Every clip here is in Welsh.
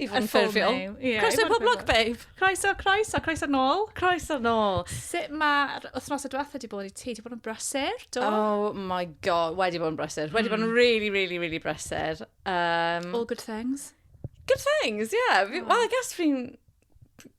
i fod yn ffurfiol. Croeso i Poblog Babe! Croeso, croeso, croeso nôl. Croeso nôl. Sut mae'r wythnosau diwetha wedi bod i ti? Wedi bod yn brysur, do? Oh my god, wedi bod yn brysur. Mm. Wedi bod yn hmm. really, really, really brysur. Um, All good things. Good things, yeah. Oh. Well, I guess fi'n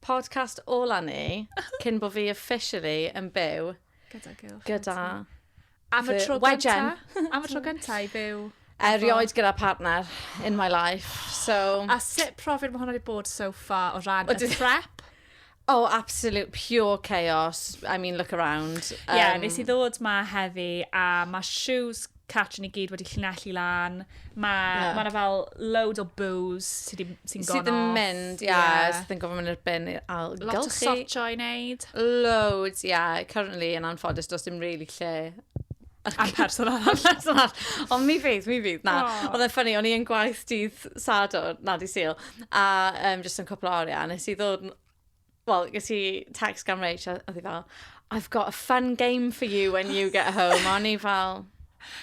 Podcast ola ni, cyn bod fi officially yn byw. Gyda girlfriend. Gyda... Am y tro gyntaf. Am y tro gyntaf i byw. Erioed gyda partner in my life. So... A sut profiad mae hwnna wedi bod so far o ran y prep? Oh, absolute pure chaos. I mean, look around. Um, yeah, nes i ddod ma heddi a mae shoes Catch yn i gyd wedi llinellu lan. Mae... Ie. ...ma' 'na fel loads o bŵs sy 'di... sy'n gone off. Sydd yn mynd, ie. Ie. Sydd yn gorfod mynd i'r bin i'r ailgylchu. Lot o sortio i wneud. Loads, ie. Currently, yn anffodus, does dim really lle Am person arall. person arall. Ond mi fydd, mi fydd. Na. Oh. Oedd e'n ffynnu, o'n i yn gwaith dydd Sadwrn, na, dydd Sul, a um, jyst yn cwpl o oriau, nes i ddod Wel, ges i text gan Rach, a oedd hi fel, I've got a fun game for you when you get home. O'n i fel,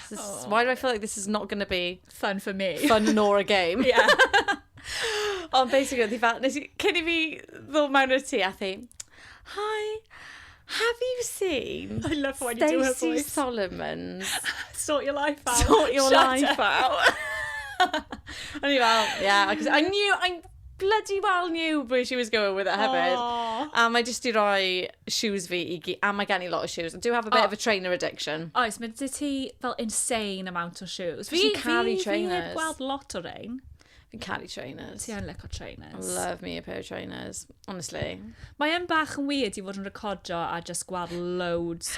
this is, why do I feel like this is not going to be Fun for me. fun nor a game? Yeah. Ond basically, oedd hi fel, nes i, cyn i fi ddod mewn i'r tŷ, a thi, Hi, have you seen I love when you do her Stacey voice. Solomon's Sort your life out. Sort Your Shut Life up. Out? O'n i fel, yeah, because I knew, I bloody well knew where she was going with it hefyd. Oh. A mae jyst i roi shoes fi i gyd, a mae gen i lot o shoes. I do have a bit oh. of a trainer addiction. Oes, mae dy ti fel insane amount o shoes. Fi, fi, fi, fi heb gweld lot o rein. Fi'n caru trainers. Ti yn licio trainers. I love me a pair of trainers, honestly. Mae yn bach yn weird i fod yn recordio a just gweld loads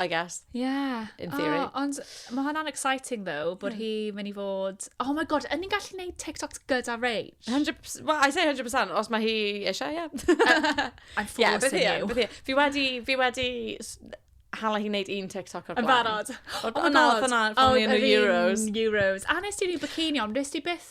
I guess. Yeah. In theory. Oh, ond mae hwnna'n exciting though, bod hi mynd i fod... Oh my god, yn ni'n gallu gwneud TikToks gyda Rach? 100%, well, I say 100%, os mae hi eisiau, ie. Yeah. I'm Yeah, bydd forcing hi, you. bydd hi. Fi wedi, fi wedi s- hala hi wneud un TikTok o'r Yn blaen. barod. O, Oh my o, na, god. oedd hwnna pan o'n i yn y yr un Euros. Euros. A nes ti ni bikini on, nes ti byth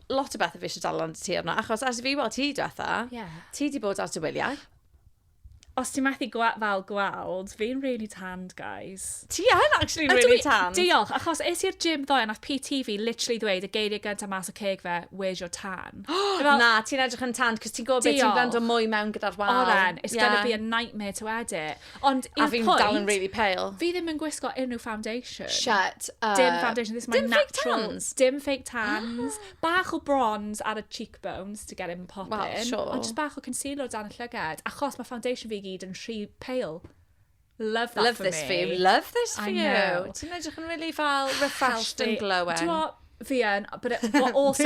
lot o bethau fi eisiau dal ond ti arno, achos as fi weld ti diwetha, yeah. ti di bod ar dy wyliau. Os ti'n methu gwa fel gweld, fi'n really tanned, guys. Ti yn actually Ydw really tanned. Diolch, achos es i'r gym ddoe, nath PT fi literally ddweud y geiriau gyntaf mas o ceg fe, where's your tan? fel, Na, ti'n edrych yn tanned, cos ti'n gwybod beth ti'n Diolch. gwrando mwy mewn gyda'r wal. Oren, it's gonna be a nightmare to edit. Ond i'r pwynt... A fi'n dal yn really pale. Fi ddim yn gwisgo unrhyw foundation. Shut up. Dim foundation, this is my natural... Dim fake tans? Dim fake tans. bach o bronze ar y cheekbones to get him popping. Wel, sure. Ond just bach o concealer o dan y llygad. Achos mae foundation fi gyd yn rhy pale. Love that love for me. Love this for you. Love this for you. Ti'n edrych yn really fel refreshed and glowing. Ti'n Fi yn, but it, what also,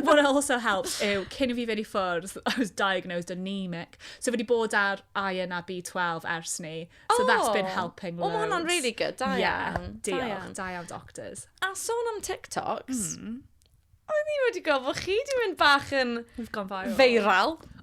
what also helps yw, cyn i fi fynd i ffwrdd, I was diagnosed anemic. So fi wedi bod ar iron a B12 ers ni. So oh, that's been oh. helping loads. Oh, hwnna'n really good, da yeah, iawn. Diolch, da iawn doctors. A sôn am TikToks, mm. o'n i wedi gweld bod chi wedi mynd bach yn... We've gone viral. Feiral.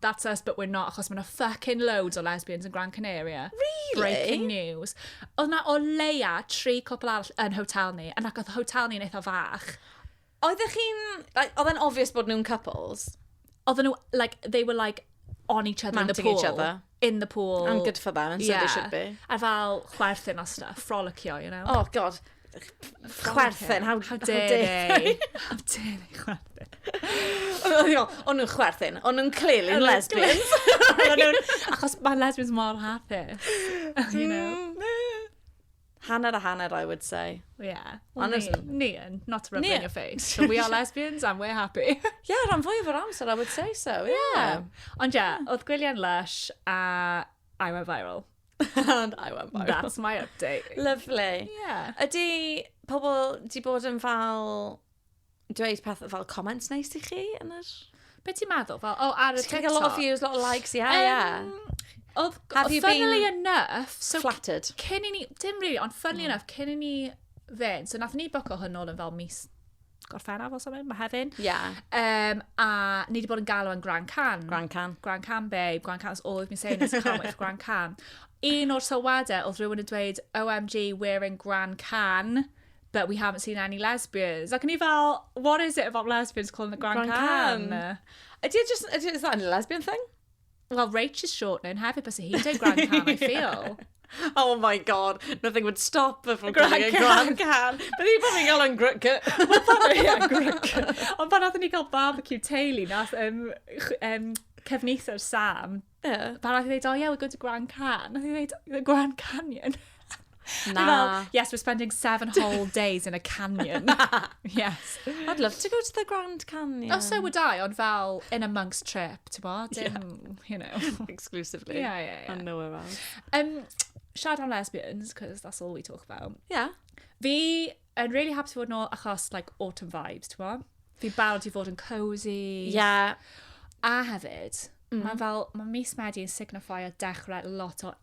That's us but we're not achos mae yna fucking loads o lesbians yn Gran Canaria. Really? Breaking news. Oedd yna o leia tri cwpl arall yn hotel ni, yn ac oedd hotel ni'n eitha fach. Oeddech chi'n... Like, oedd e'n obvious bod nhw'n couples? Oedden nhw, like, they were like on each other in the Mounting pool. each other. In the pool. And good for them, and so they should be. A fel chwerthin a stuff, frolicioy, you know. Oh, god. chwerthin. How, how dare they? how dare they chwerthin? O'n nhw'n chwerthin. O'n nhw'n clearly yn lesbians. Achos mae lesbians mor hapus. you know. Mm. Hanner a hanner, I would say. Yeah. Well, ni, ni yn. Not to rub in your face. So we are lesbians and we're happy. yeah, rhan fwy o'r amser, I would say so. Yeah. yeah. Ond yeah, oedd gwyliau'n lush a I went viral. And I went viral. That's my update. Lovely. Yeah. Ydy pobl di bod yn fel dweud peth fel comments neis i chi yn yr... Be ti'n meddwl? Fel, oh, ar y TikTok? a lot of views, a lot of likes, yeah, um, yeah. Oedd, Have you funnily been enough, so flattered? Cyn i ni, dim really, ond funnily mm. enough, cyn i ni fe'n, so nath ni boco hwn ôl yn fel mis Gorffennaf os am hyn, mae hefyn. Ia. Um, a ni wedi bod yn galw yn Grand Can. Grand Can. Grand Can, babe. Grand Can, that's all we've been saying is can't wait for Grand Can. Un o'r sylwadau oedd rhywun yn dweud, OMG, we're in Grand Can, but we haven't seen any lesbians. Ac ni fel, what is it about lesbians calling the Grand, Grand Can? Can? Ydy, e just, ydy, e, is that a lesbian thing? Well, Rach is shortening hefyd, bys hi'n dweud Grand Can, I feel. Oh my god, nothing would stop her from calling it Grand Can. Bydd hi'n bod yn gael yn grwca. Ond pan oeddwn ni gael barbecue teulu, nath um, um, cefnithr Sam, yeah. pan oeddwn i dweud, oh yeah, we're going to Grand Can. Nath i dweud, the Grand Canyon. Na. Fel, yes, we're spending seven whole days in a canyon. yes. I'd love to go to the Grand Canyon. Oh, so would I, ond fel in amongst trip, ti'n bo? Dim, yeah. you know. Exclusively. Yeah, yeah, yeah. And nowhere else. Um, siarad am lesbians, because that's all we talk about. Yeah. Fi yn really happy fod nôl achos, like, autumn vibes, ti'n bo? Fi barod i fod yn cozy. Yeah. A hefyd, mm. mae fel, mae mis Medi yn signifio dechrau lot o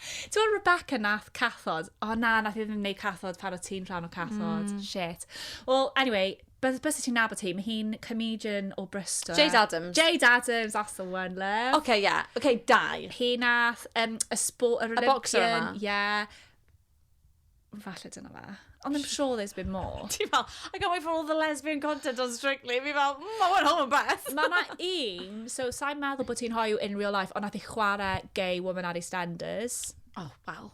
Ti'n gwbod Rebecca nath cathod? O na, nath i ddim neud cathod pan o ti'n rhan o cathod. Mm. Shit. Wel, anyway, bys bys ti'n nabod hi, mae hi'n comedian o Bristol. Jade Adams. Jade Adams, that's the one, love. Oce, okay, ie. Yeah. Oce, okay, dau. Hi nath, um, y sbo... Y, y boxer yma. Ie. Yeah. Falle dyna fe. Ond I'm sure there's been more. Ti fel, I can't wait for all the lesbian content on Strictly. Fi fel, mm, I went home yn beth. Mae yna un, so sa'n meddwl bod ti'n hoyw in real life, ond nath i chwarae gay woman ar EastEnders. O, oh, wel.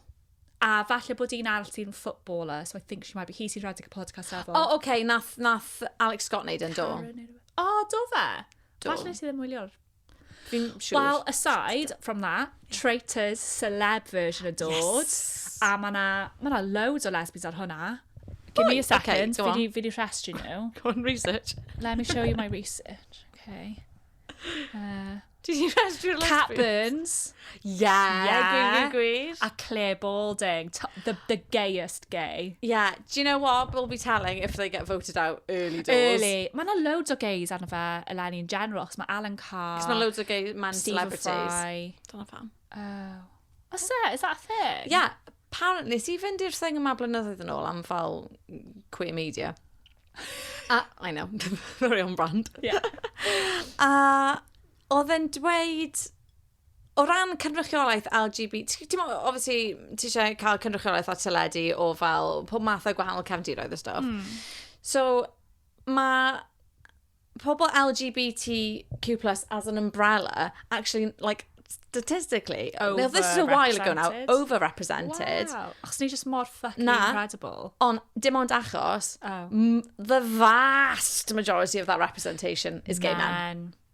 A falle bod un arall sy'n footballer, so I think she might be, hi sy'n rhedeg y podcast efo. O, oh, oce, okay, nath, nath Alex Scott neud yn do. O, oh, do fe? Do. Falle nes i ddim wylio'r Fi'n siŵr. Well, aside from that, Traitors, celeb version yn dod. Yes. A mae yna ma na loads o lesbians ar hwnna. Give me a second, okay, fi, di, fi di rhestri nhw. Go on, research. Let me show you my research. Okay. Uh, Ti di rhestru'r lesbians? Cat Burns. Yeah, yeah. gwir, gwir, gwir. A Claire Balding. The, the gayest gay. Yeah, do you know what? We'll be telling if they get voted out early doors. Early. Mae yna loads o gays arno fe eleni yn general, cos mae Alan Carr... Cos mae loads o gay man celebrities. Stephen Fry. Dyna pam. Oh. Os e, is that a thing? Yeah, apparently, nes i fynd i'r thing yma blynyddoedd yn ôl am fel queer media. A, I know, very on brand. Yeah. a oedd e'n dweud O ran cynrychiolaeth LGBT, ti'n gwybod, obviously, ti eisiau cael cynrychiolaeth at teledu o fel pob math o gwahanol cefndiroedd a stwff. Mm. So, mae pobl LGBTQ+, as an umbrella, actually, like, statistically, oh, now this is a while ago now, overrepresented. Wow, achos ni just mor fucking Na. incredible. Ond dim ond achos, oh. the vast majority of that representation is gay men. men.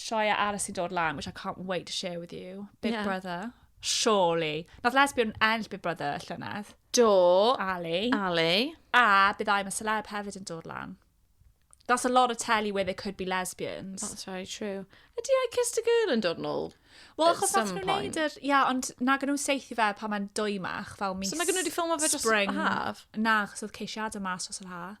sioia arall sy'n dod lan, which I can't wait to share with you. Big yeah. Brother. Surely. Nath lesbian enll Big Brother llynedd. Do. Ali. Ali. A bydd I'm a celeb hefyd yn dod lan. That's a lot of telly where there could be lesbians. That's very true. Ydy I Kissed a Girl yn dod yn ôl? Wel, achos nath nhw'n neud yr... Ia, ond na gan nhw'n seithi fe pan mae'n dwymach, fel mis... So mae gen nhw wedi ffilmio fe dros yr haf? Na, achos oedd ceisiadau mas dros yr haf.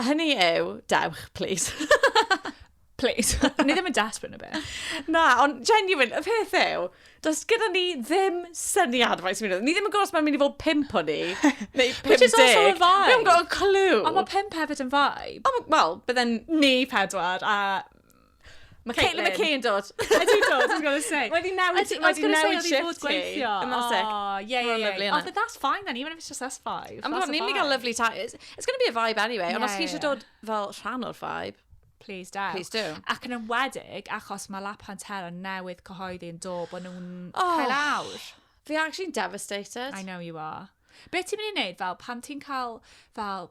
Hynny yw, dewch, please. please. ni ddim yn desperate na beth. Na, ond genuine, y peth yw, does gyda ni ddim syniad faint sy'n mynd. Ni ddim yn gwybod os mae'n mynd i fod pimp o ni, neu pimp deg. Which is also a vibe. Ni ddim yn gwybod clue. Ond mae pimp hefyd yn vibe. Wel, bydden ni pedwar a Mae Caitlin McKay yn dod. I do dod, I was going to say. Mae di newid, I was going to say, oedd i fod gweithio. Yn nos sec. Oh, yeah, yeah, yeah. yeah. Oh, but that's fine then, even if it's just us five. I'm not, ni'n gael lovely time. It's, it's going to be a vibe anyway, yeah, ond os chi eisiau dod fel rhan o'r vibe, Please do. Please do. Ac yn ymwedig, achos mae La Pantera newydd cyhoeddi yn dod bod nhw'n oh, cael awr. Fi actually devastated. I know you are. Be ti'n mynd i wneud fel pan ti'n cael fel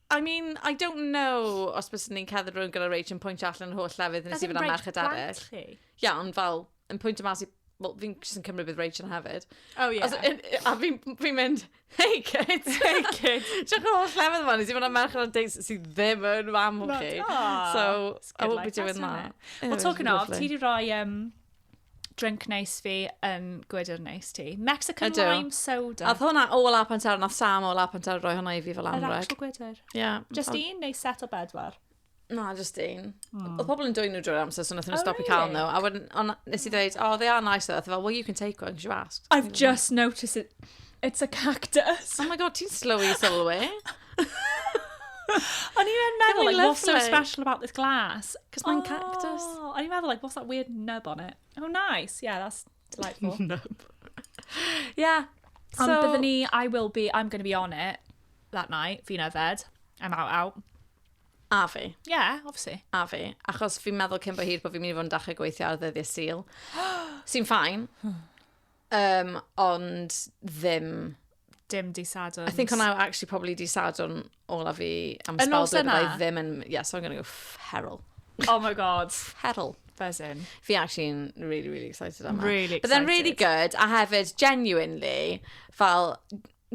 I mean, I don't know os bys ni'n ceddu rhywun gyda rage yn pwyntio allan yr holl lefydd nes i fyna merched arall. Ia, yeah, ond fel, yn pwyntio mas i... Wel, fi'n sy'n cymryd bydd rage yn hefyd. Oh, ie. Yeah. A fi'n fi mynd, hey kid, hey kid. Diolch yn holl lefydd yma, nes i fyna merched ar deis sydd ddim yn fam o chi. So, I won't be doing that. Well, talking of, ti di roi um, drink neis fi yn gwydr neis ti. Mexican Ydw. lime soda. Oedd hwnna o la pantar, nath Sam o la pantar roi hwnna i fi fel Yr anreg. actual gwydr. Yeah. Just un neu set o bedwar? Na, just un. Mm. Oedd pobl yn dwy'n nhw drwy'r amser, so nath nhw Oh, stopio cael really? nhw. A wedyn, ond nes i dweud, oh, they are nice though. Oedd e fel, well, you can take one, because you asked. I've just noticed it. It's a cactus. Oh my god, ti'n slow i sylwi. O'n i'n meddwl, like, what's so special about this glass? Because mae'n oh, cactus. O'n i'n meddwl, like, what's that weird nub on it? Oh, nice. Yeah, that's delightful. nub. yeah. So, Ond byddwn ni, I will be, I'm going to be on it that night, fi'n yfed. I'm out, out. A fi. Yeah, obviously. A fi. Achos fi'n meddwl cyn bod hir bod fi'n mynd i fod yn dachrau gweithio ar ddyddiau syl. Sy'n ffain. Um, ond ddim... Dim di Sadwrn. I think hwnna actually probably di Sadwrn olaf fi am y spel dweud i ddim yn... Yeah, so I'm gonna go feral. Oh my god. Feral. Buzzing. Fi actually'n really, really excited am that. Really excited. But then really good, a hefyd, genuinely, fel,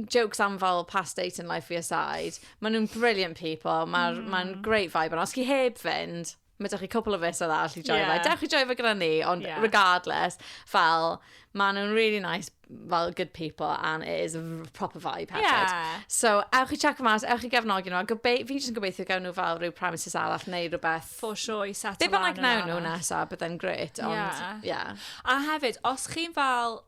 jokes am fel past date in life fi aside, maen nhw'n brilliant people, mae'n mm. ma great vibe yna. Os chi heb fynd, mae da chi cwpl o fus arall i joio yeah. fe. Dewch i joio fe gyda ni, ond yeah. regardless, fel, maen nhw'n really nice, fel good people, and it is a proper vibe hefyd. Yeah. So, ewch i check mas, ewch i gefnogi nhw, a gobe fi jyst yn gobeithio gawn nhw fel rhyw premises arall neu rhywbeth. For sure, i set Be bynnag nawn nhw nesaf, byddai'n gret, ond, yeah. yeah. A hefyd, os chi'n fel,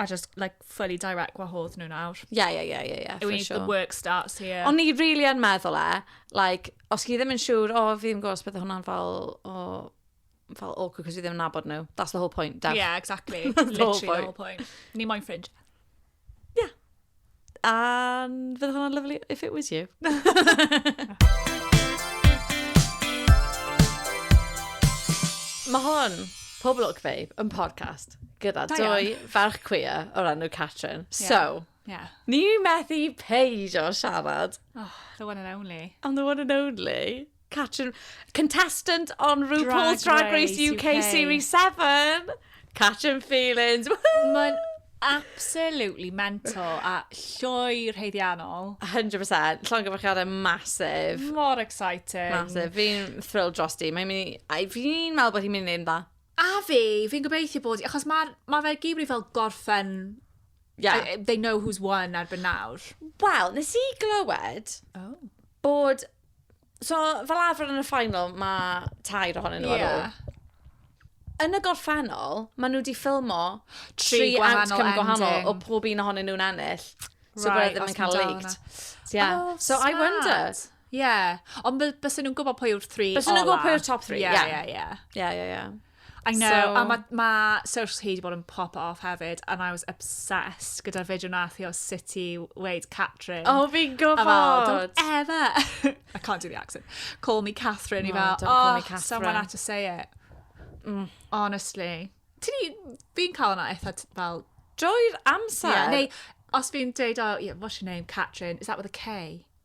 I just, like, fully direct gwahodd nhw nawr. Ie, ie, ie, ie, ie, for sure. The work starts here. O'n i really yn meddwl e, like, os chi ddim yn siŵr, o, fi ddim gwybod os beth hwnna'n fel, o, fel awkward, cos fi ddim yn nabod nhw. That's the whole point, Daf. Yeah, exactly. Literally the whole point. Ni moyn ffrind. Yeah. And fydd hwnna'n lyflu if it was you. Mae hwn, Pob Look Fabe, yn podcast gyda Da iawn. dwy ferch cwia o'r enw Catrin. Ie. So, Ie. ni methu peidio siarad Oh, the one and only. am the one and only. Catrin, contestant on RuPaul's Drag, Drag Race, UK, UK, Series 7. Catrin Feelings. Mae'n absolutely mental a llwy rheiddiannol. 100%. Llon gyfarchiadau masif. Mor exciting. Masif. Fi'n thrilled dros di. Mae'n mynd i... Fi'n meddwl bod hi'n mynd i'n dda. A fi, fi'n gobeithio bod... Achos mae ma fe gyd wedi fel gorffen... Yeah. I, they know who's won erbyn nawr. Wel, nes i glywed... Oh bod So, fel arfer yn y final, mae tair ohonyn nhw ar ôl. Ie. Yn y gorffennol, maen nhw wedi ffilmo Tri tri gwahanol outcome gwahanol o ending. pob un ohonyn nhw'n ennill. So, Right, right, ddim os yn cael amdano. leaked. Yeah. Oh, so, I smart. wondered. Ie. Ond by- bysen nhw'n gwybod pwy yw'r three Bysen nhw'n gwybod ola. pwy yw'r top three, Ie, ie. ie, ie. Ie, ie, ie. I know, so... a mae ma socials hi wedi bod yn pop off hefyd, and I was obsessed gyda'r fideo nath i o sut i weid Catrin. Oh, fi'n gwybod! Don't ever! I can't do the accent. Call me Catherine, no, i fel, oh, me Catherine. someone had to say it. Mm. Honestly. Fi'n cael yna eitha fel... Drwy'r amser? Yeah, neu, os fi'n deud, oh, yeah, what's your name, Catrin? Is that with a K?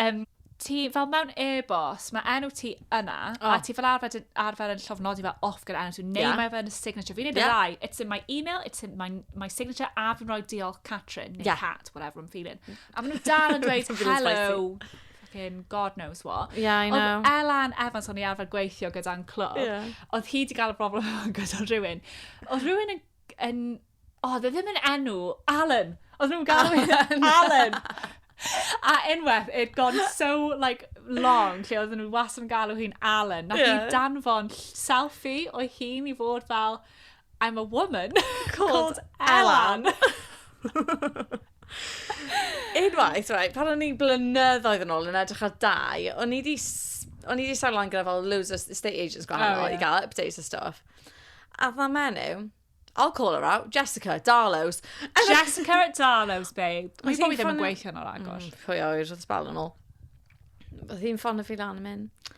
Yym, ti fel mewn e-bost, mae enw ti yna, oh. a ti fel arfer, yn- arfer yn llofnodi fel off gyda enw ti, neu yeah. mae fe yn y signature. Fi'n neud yeah. y ddau, it's in my email, it's in my, my signature, a fi'n rhoi diolch Catrin, neu yeah. Cat, whatever I'm feeling. A maen nhw dal yn dweud, hello, fucking god knows what. Yeah, I know. Oedd Elan Evans o'n i arfer gweithio gyda'n clwb, yeah. oedd hi wedi cael y broblem gyda rhywun. Oedd rhywun yn, yn O, dde ddim yn enw. Alan! Oedd nhw'n galw Alan! Alan! A unwaith, it gone so, like, long, lle oedd nhw was yn galw hi'n Alan. Na yeah. i danfon selfie o'i hun i fod fel, I'm a woman called, called Alan. Alan. Unwaith, right, pan o'n i'n blynyddoedd yn ôl yn edrych ar dau, o'n i wedi o'n i wedi sa'n lan gyda fel loads of estate agents gwahanol oh, yeah. i gael updates a stuff. A dda menyw, I'll call her out. Jessica at Darlow's. Jessica at Darlow's, babe. Mae hi'n ddim yn gweithio nôl agor. Mm, pwy oer, oedd sbal yn ôl. Oedd hi'n ffon y fi lan yn mynd,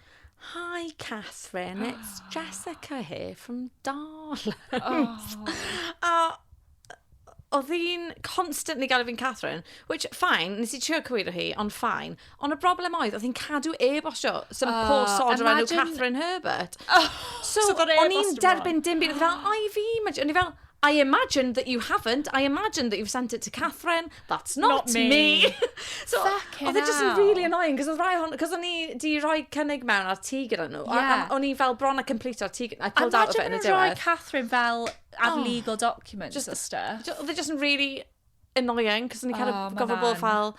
Hi, Catherine, it's Jessica here from Darlow's. Oh. a oedd hi'n constantly gael fi'n Catherine, which, fine, nes i trio cywiro hi, ond fine. Ond y broblem oedd, oedd hi'n cadw e-bostio some oh, poor sod o'r enw Catherine Herbert. Oh, so, so o'n i'n derbyn dim byd. Fel, oh. I fi, o'n i fel, I imagine that you haven't. I imagine that you've sent it to Catherine. That's not, not me. me. so, oedd e just yn really annoying, cos oedd rai hon, cos o'n i di rhoi cynnig mewn ar ti gyda nhw. Yeah. O'n i fel bron a complete ar ti gyda nhw. I pulled out of it yn y diwedd. Imagine rhoi Catherine fel ar oh. legal documents just, a stuff. Oedd e just yn really annoying, cos o'n i kind oh, of gofod bod fel...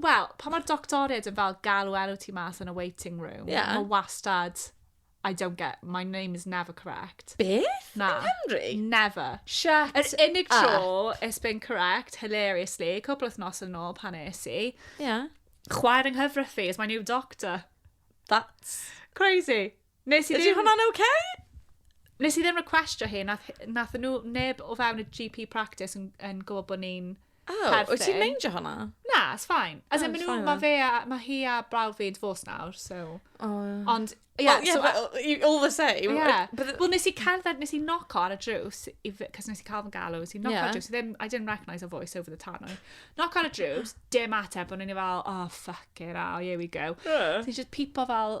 Wel, pan mae'r doctoriaid yn fel galw enw ti mas yn y waiting room, yeah. mae wastad, I don't get, my name is never correct. Beth? Na. Yn Henry? Never. Shut Yr unig tro up. it's been correct, hilariously, cwpl nos yn ôl pan es i, yeah. chwaer yng nghyfraith fi is my new doctor. That's... Crazy. Nes i ddim... Ydy hwnna'n ok? Nes i ddim requestio hi, nath, nath nhw neb o fewn y GP practice yn, yn gwybod bod ni'n oh, perthyn. wyt ti'n meindio hwnna? Na, it's fine. As oh, in, nhw, mae fe a, mae hi a brawd fi'n divorce nawr, so... Oh, yeah. Ond, ie, yeah, well, yeah, so... But, all the same. Yeah. But... Wel, nes i cerdded, nes i noc ar y drws, cos nes i cael fy galw, nes i noc yeah. ar y drws, ddim, I didn't recognise her voice over the tannoy. Noc ar y drws, dim ateb, ond ni'n fel, oh, fuck it, oh, here we go. Yeah. So, just pipo fel,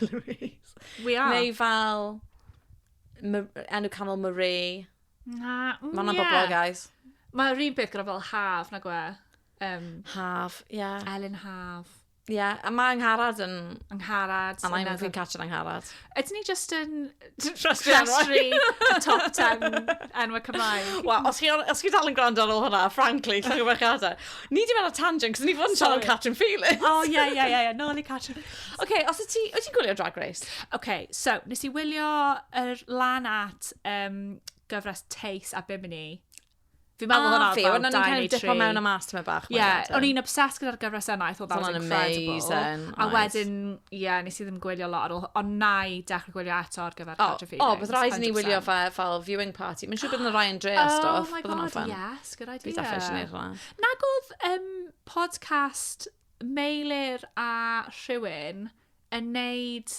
Louise. We are. Neu fel... Enw canol Marie. Na, mm, Mae'n yeah. bobl, guys. Mae'r un peth gyda fel haf, na gwe. Um, haf, ie. Yeah. Elin Haf. Ie, yeah. a mae Angharad yn... Angharad. A mae'n fi'n catch yn Angharad. Ydyn ni just yn Trastri, y top 10 enwau Cymraeg. Wel, os chi, os chi dal yn gwrando ar ôl hwnna, frankly, llwch o adar. Ni di mewn tangent, cos ni fod yn siarad am Catrin Felix. O, ie, ie, ie, ie, nôl i Catrin. Oce, okay, os ti, wyt ti'n gwylio Drag Race? Oce, okay, so, nes i wylio yr lan at um, gyfres Tace a Bimini. Fi'n meddwl hwnna fel Diane Tree. O'n i'n dipo mewn a mas tyma bach. Ie, yeah, o'n i'n obsessed gyda'r gyfres yna. I thought that was incredible. Amazing, a wedyn, ie, yeah, nes i ddim gwylio lot ar ôl. Ond na i dechrau gwylio eto ar gyfer oh, Roger Phoenix. O, bydd rhaid ni wylio fe fel viewing party. Mae'n siŵr bod yna Ryan Dre a oh stuff. Oh my god, yes, good idea. Bydd eisiau gwneud hwnna. Nag oedd um, podcast Meilir a rhywun yn neud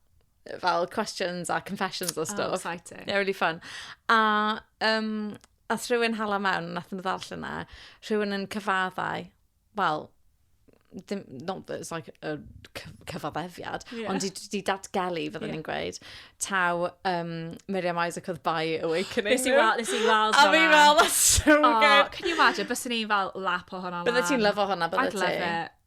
fel questions a confessions a oh, stuff. Oh, exciting. Yeah, really fun. A, um, a rhywun hala mewn, nath nhw ddall yna, rhywun yn cyfaddau, well, dim, not that it's like a cyfaddefiad, yeah. ond di, di datgelu, fyddwn yeah. ni'n gweud, taw um, Miriam Isaac oedd by Awakening. Nes i weld, nes i weld hwnna. A fi fel, that's so oh, good. Can you imagine, bys ni'n fel lap o hwnna lan. Bydde ti'n lyfo hwnna, bydde ti? I'd love it.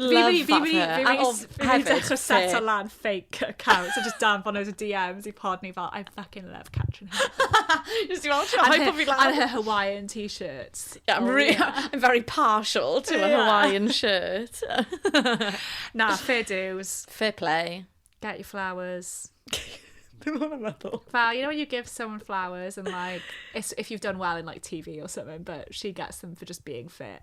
Love that her. Fi wedi dechrau seto lan fake account, so just dan fod nhw'n DMs i pod ni fel, I fucking love Catrin Hepburn. Just i fel, ti'n rhoi bod fi lan. And her Hawaiian t-shirts. Yeah, I'm, oh, re yeah. I'm very partial to yeah. a Hawaiian shirt. Na, fair dues. Fair play. Get your flowers. Dim ond yn meddwl. Fel, you know when you give someone flowers and like, if you've done well in like TV or something, but she gets them for just being fit.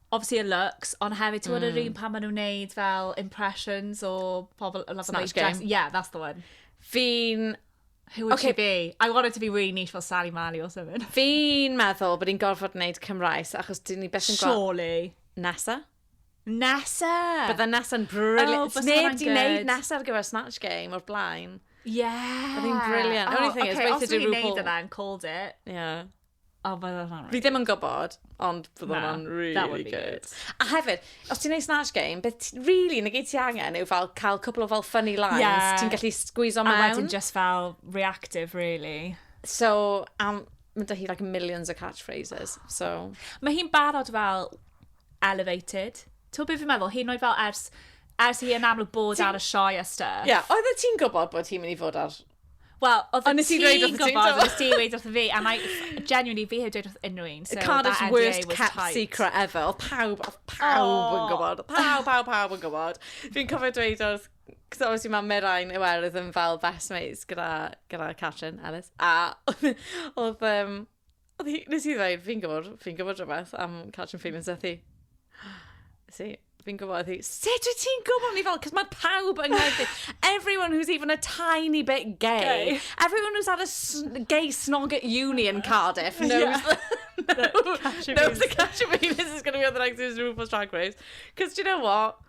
obviously y looks, ond hefyd ti'n gwybod yr un pan maen nhw'n neud fel impressions o pobl yn lafo Snatch Game. Yeah, that's the one. Fi'n... Who would she be? I want it to be really niche fel Sally Mali or something. Fi'n meddwl bod ni'n gorfod wneud Cymraes, achos dyn ni beth yn gweld... Surely. Nesa. Nesa! Bydda Nesa'n brilliant. Oh, Neb di wneud Nesa ar gyfer Snatch Game o'r blaen. Yeah. Oedd hi'n brilliant. Oh, Only thing okay, is, weithio di RuPaul. Os ni'n neud yna and called it. Yeah. Oh, but that's not right. Fi ddim yn gwybod, ond bydd no, hwnna'n really good. good. A hefyd, os ti'n ei snatch game, beth really nag ti angen yw fel cael cwpl o fel funny lines, yeah. ti'n gallu squeeze on mewn. A wedyn just fel reactive, really. So, um, mae dy hi like millions of catchphrases, so... Mae hi'n barod fel elevated. Ti'n beth fi'n meddwl? Hi'n oed fel ers, ers hi yn amlwg bod ar y sioe a stuff. Ie, yeah, oedd ti'n gwybod bod hi'n mynd i fod ar Wel, oedd y ti'n gweud wrth ti'n gwybod, nes ti'n gweud wrth fi, and I, genuinely, fi heb dweud wrth unrhyw un. So Cardiff's worst kept tight. secret ever. Oedd pawb, oedd pawb oh. yn gwybod. Pawb, pawb, pawb yn gwybod. Fi'n cofio dweud wrth, cos obviously mae Mirain i werth yn fel best mates gyda, gyda Catrin Ellis. A oedd, um, Oedd hi... Wnes i ddweud, fi'n gwybod, fi'n gwybod rhywbeth am catching feelings ath hi. Wnes i, fi'n gwybod, ath hi, sut wyt ti'n gwybod? Ni fel, cos mae pawb yng Nghaerdydd, everyone who's even a tiny bit gay, Gay. everyone who's had a s- gay snog at uni in Cardiff knows Yeah. that, Catching knows feelings. that catching feelings is going to be on the next season of RuPaul's Drag Race. Cos do you know what?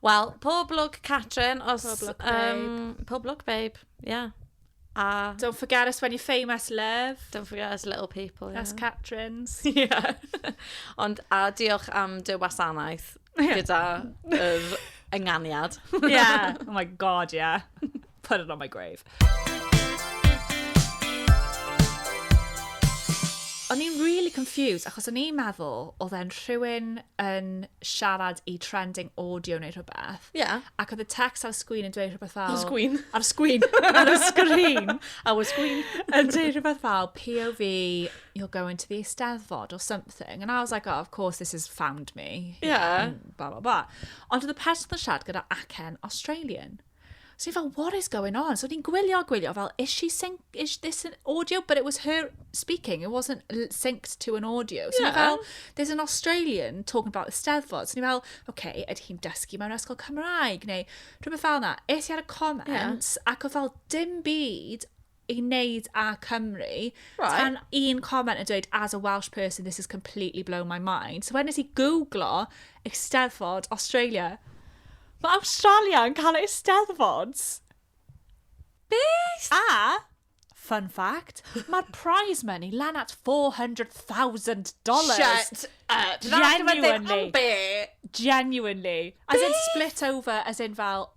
Wel, pob lwc, Catrin, os... Pob lwc, babe. Um, pob lwc, babe, ie. Yeah. A... Don't forget us when you're famous, love. Don't forget us little people, yeah. Us Catrins. yeah. Ond, a diolch am dy wasanaeth gyda yr ynganiad. yeah. Oh my god, yeah. Put it on my grave. O'n i'n really confused, achos o'n i'n meddwl oedd e'n rhywun yn siarad i trending audio neu rhywbeth. Ie. Yeah. Ac oedd y text ar y sgwyn yn dweud rhywbeth fel... Ar y sgwyn? Ar y sgwyn. ar y sgrin. Ar y sgwyn. Yn dweud rhywbeth fel, POV, you'll go into the eisteddfod or something. And I was like, oh, of course this has found me. Ie. Yeah. Blah, blah, blah. Ond oedd y person yn siarad gyda acen Australian. So ni fel, what is going on? So ni'n gwylio, gwylio, fel, is she sync, is this an audio? But it was her speaking, it wasn't synced to an audio. So yeah. fel, there's an Australian talking about the Steddfod. So ni fel, okay, ydy hi'n dysgu mewn ysgol Cymraeg, neu rhywbeth fel yna. Es i ar y comments, yeah. ac oedd fel dim byd i wneud â Cymru, right. tan un comment yn dweud, as a Welsh person, this has completely blown my mind. So wedyn nes i googlo Eisteddfod Australia. Mae Australia yn cael Eisteddfod. Beth? A, fun fact, mae'r prize money lan at $400,000. Shut up. Genuinely. Genuinely. As in split over, as in fel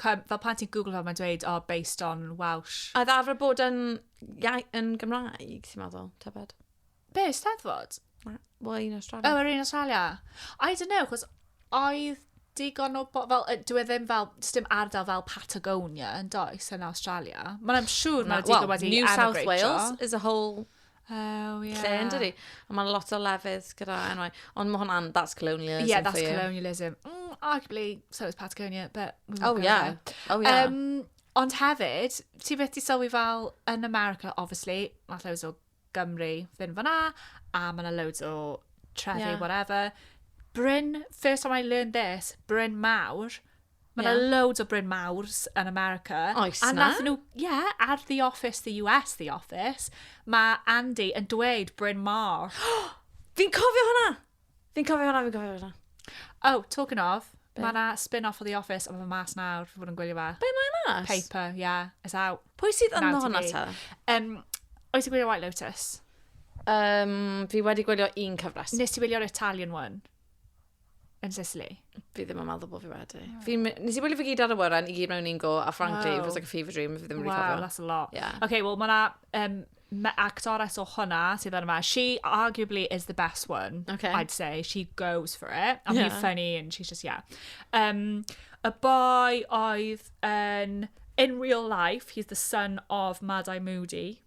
Cymru, fel pan ti'n Google fel mae'n dweud, oh, based on Welsh. A ddafra bod yn, yn Gymraeg, ti'n meddwl, tybed? Be, steddfod? Wel, un Australia. Oh, yr un Australia. I don't know, chos oedd digon o bo... Fel, dwi e ddim fel... Dim ardal fel Patagonia yn does yn Australia. Mae'n am siŵr mae digon wedi New South Wales is a whole Oh, yeah. Lle yn dydi? A mae'n lot o lefydd gyda enwau. Ond mae hwnna'n, that's colonialism Yeah, that's colonialism. Mm, arguably, so is Patagonia, but... Oh, yeah. Oh, yeah. Um, ond hefyd, ti beth ti sylwi fel yn America, obviously, mae loads o Gymru fynd fyna, a mae yna loads o trefi, yeah. whatever. Bryn, first time I learned this, Bryn Mawr, Mae yna yeah. loads o Bryn Mawrs yn America. Oes a na? nhw, yeah, ar The Office, The US, The Office, mae Andy yn dweud Bryn Mawr. fi'n cofio hwnna! Fi'n cofio hwnna, fi'n cofio hwnna. Oh, talking of, mae yna spin-off o The Office, ond mae mas nawr, fi bod yn gwylio fe. Be mae mas? Paper, yeah, it's out. Pwy sydd yno hwnna ta? Um, oes i gwylio White Lotus? Um, fi wedi gwylio un cyfres. Nes ti wylio'r Italian one? yn Sicily. Fi ddim yn meddwl bod fi wedi. Yeah. Fi, nes i wylio fe gyd ar y wyren, i gyd mewn un go, a frankly, wow. it was like a fever dream, fi ddim yn really cofio. Wow, that's a lot. Yeah. Okay, well, mae'na um, actores o hwnna sydd yna. She arguably is the best one, okay. I'd say. She goes for it. And yeah. funny, and she's just, yeah. Um, a boy oedd yn... In real life, he's the son of Madai Moody.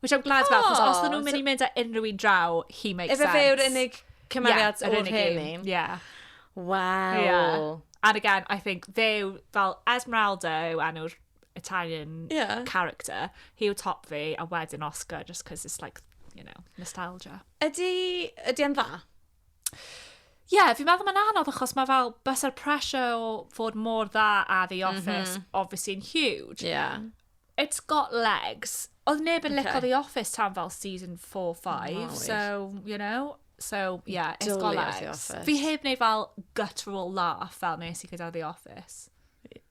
Which I'm glad about, achos os nhw'n mynd i mynd â unrhyw un draw, he makes sense. Efe fe yw'r unig cymeriad yeah, o'r hen un. Yeah. Wow. Yeah. And again, I think fe yw, fel Esmeralda yw enw'r Italian yeah. character, hi yw top fi, a wedyn Oscar, just because it's like, you know, nostalgia. Ydy, ydy yn dda? Ie, yeah, fi'n meddwl mae'n anodd achos mae fel bus o'r pressure o fod mor dda a The mhm. Office, mm -hmm. obviously, yn huge. Yeah. It's got legs. Oedd neb yn licio The Office tan fel season 4, 5, so, you know? So, yeah, it's got legs. Fi heb wneud fel guttural laugh fel nes i gyda The Office.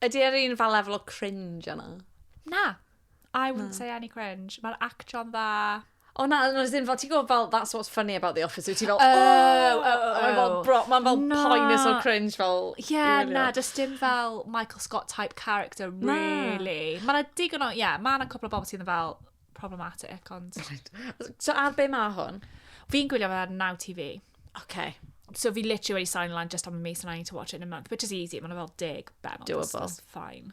Ydy ar un fel lefel o cringe yna? Na. I wouldn't say any cringe. Mae'r actio'n dda. O na, no, as in, fel, ti'n gwybod, fel, that's what's funny about The Office, wyt ti fel, oh, oh, oh, oh. Mae'n fel, bro, mae'n fel Na. poenus o'r cringe, fel, Ie, i yeah, wylio. na, does dim fel Michael Scott type character, Na. really. Mae yna digon o, ie, yeah, mae yna cwpl o bobl sydd yn fel problematic, ond... So, ar be mae hwn? Fi'n gwylio fe ar Now TV. Okay, So fi literally wedi sign lan just am y mis and I need to watch it in a month, which is easy, mae'n fel deg benod. Doable. That's, that's fine.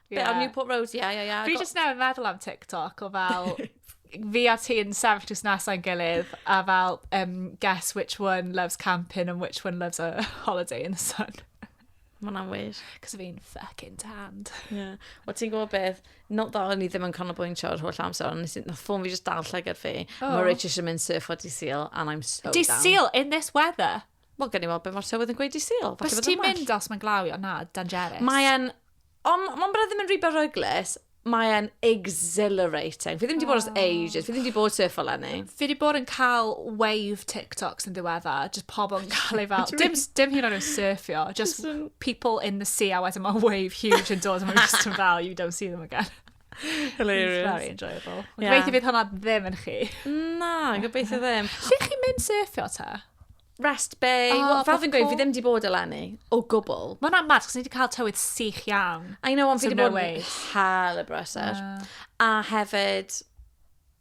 Bit on Newport Road, ie, ie, ie. Fi jyst newydd meddwl am TikTok o fel... fi a ti'n sefyll jyst nes a'n gilydd a fel um, guess which one loves camping and which one loves a holiday in the sun. Mae'n anwyr. Cos fi'n fucking tanned. Yeah. O ti'n gwybod beth, not that o'n i ddim yn canolbwyntio ar holl amser, ond nath ffôn fi just dal llygad fi. Oh. Mae Rich eisiau mynd surf o di seal, and I'm so Di down. seal in this weather? Wel, gen i weld beth mae'r tywydd yn gweud i Sul. Bys ti'n mynd os mae'n glawio? Na, dangerous. Mae'n... Ond mae'n bryd ddim yn rhy beryglus. Mae'n exhilarating. Fi ddim wedi bod os ah. ages. Fi ddim wedi bod surf o lenni. Fi wedi bod yn cael wave TikToks yn ddiwedda. Just pobl yn cael ei fel... dim, dim hyn o'n nhw'n surfio. Just people in the sea a wedyn mae wave huge yn dod. Mae'n just yn fel, you don't see them again. Hilarious. It's very enjoyable. Ond yeah. Gobeithio fydd hwnna ddim yn chi. Na, gobeithio ddim. Lle chi'n mynd surfio ta? Rest Bay. Oh, well, fel fi'n gweud, fi ddim di bod eleni. O gwbl. Mae hwnna'n mad, chos ni wedi cael tywydd sych iawn. I know, ond fi wedi bod yn hel y brysau. A hefyd,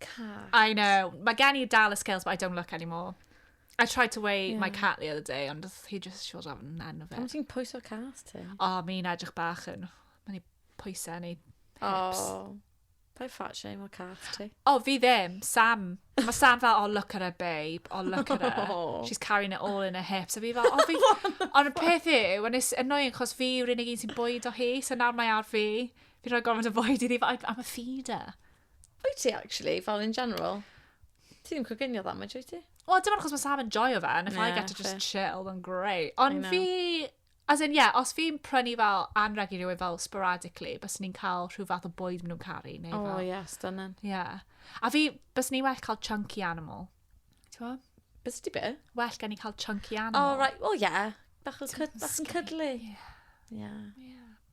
Cat. I know. Mae gen i dal y scales, but I don't look anymore. I tried to weigh yeah. my cat the other day, ond he just showed off yn enw fe. Am ti'n pwyso cat ti? O, oh, mi'n edrych bach yn... Mae'n ei pwysau yn ei hips. Oh. Pa'i fat shame o cat ti? O, oh, fi ddim. Sam. Mae Sam fel, oh, look at her, babe. Oh, look at her. Oh. She's carrying it all in her hips. A fi fel, oh, fi... Ond y peth yw, yn annoying, chos fi yw'r unig un sy'n bwyd o hi, so nawr mae ar fi. Fi'n rhoi gormod o fwyd iddi, but I'm a feeder. Wyt ti, actually, fel in general? Ti ddim coginio dda, mae ti? Wel, dim ond achos mae Sam yn joio fe, and if I get to just chill, then great. Ond fi, as in, yeah, os fi'n prynu fel anreg i rywun fel sporadically, bys ni'n cael rhyw fath o bwyd maen nhw'n caru, neu fel... Oh, yeah, stunning. Yeah. A fi, bys ni'n well cael chunky animal. Ti'n fawr? Bys ti be? Well gen i cael chunky animal. Oh, right, well, yeah. Bach o cyd, bach yn cydlu. Yeah. Yeah.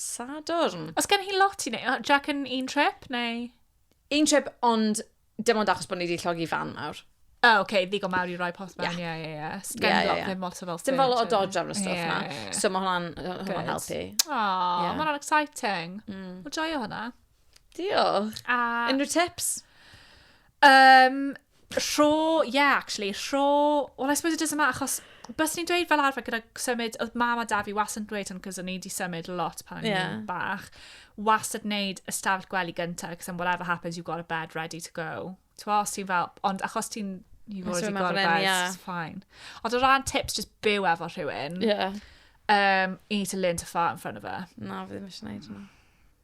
Sadwrn. Os gen hi lot i wneud, o, Jack yn un trip, neu? Un trip, ond dim ond achos bod ni wedi llogi fan nawr. O, oh, okay, ddigon mawr i roi post mewn, ie, ie, ie. Sgen yeah, yeah, yeah. ddim lot o fel Dim fel o dodge ar y stwff yeah, na. Yeah, yeah. So mae hwnna'n hwnna helpu. Oh, yeah. mae hwnna'n exciting. Mm. Mae joio hwnna. Diolch. A... Unrhyw tips? Um, rho, yeah, actually, rho... Well, I suppose it doesn't matter, achos bys ni'n dweud fel arfer gyda symud, oedd mam a da fi wastad yn dweud hwn, cos o'n i wedi symud lot pan o'n yeah. bach, wastad wneud ystafell gwely gyntaf, cos am whatever happens, you've got a bed ready to go. Ti'n os ti'n fel, ond achos ti'n, you've already got a bed, yeah. it's fine. Ond o ran tips, just byw efo rhywun. Yeah. Um, you need to learn to fart in front of her. Na, fi ddim eisiau gwneud hwnna.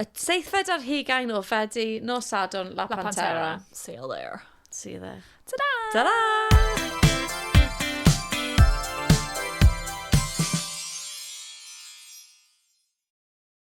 Y seithfed ar hugain o Fedi, nos Sadwrn, La, La Pantera. Pantera. See you there. See you there. Ta-da! Ta-da!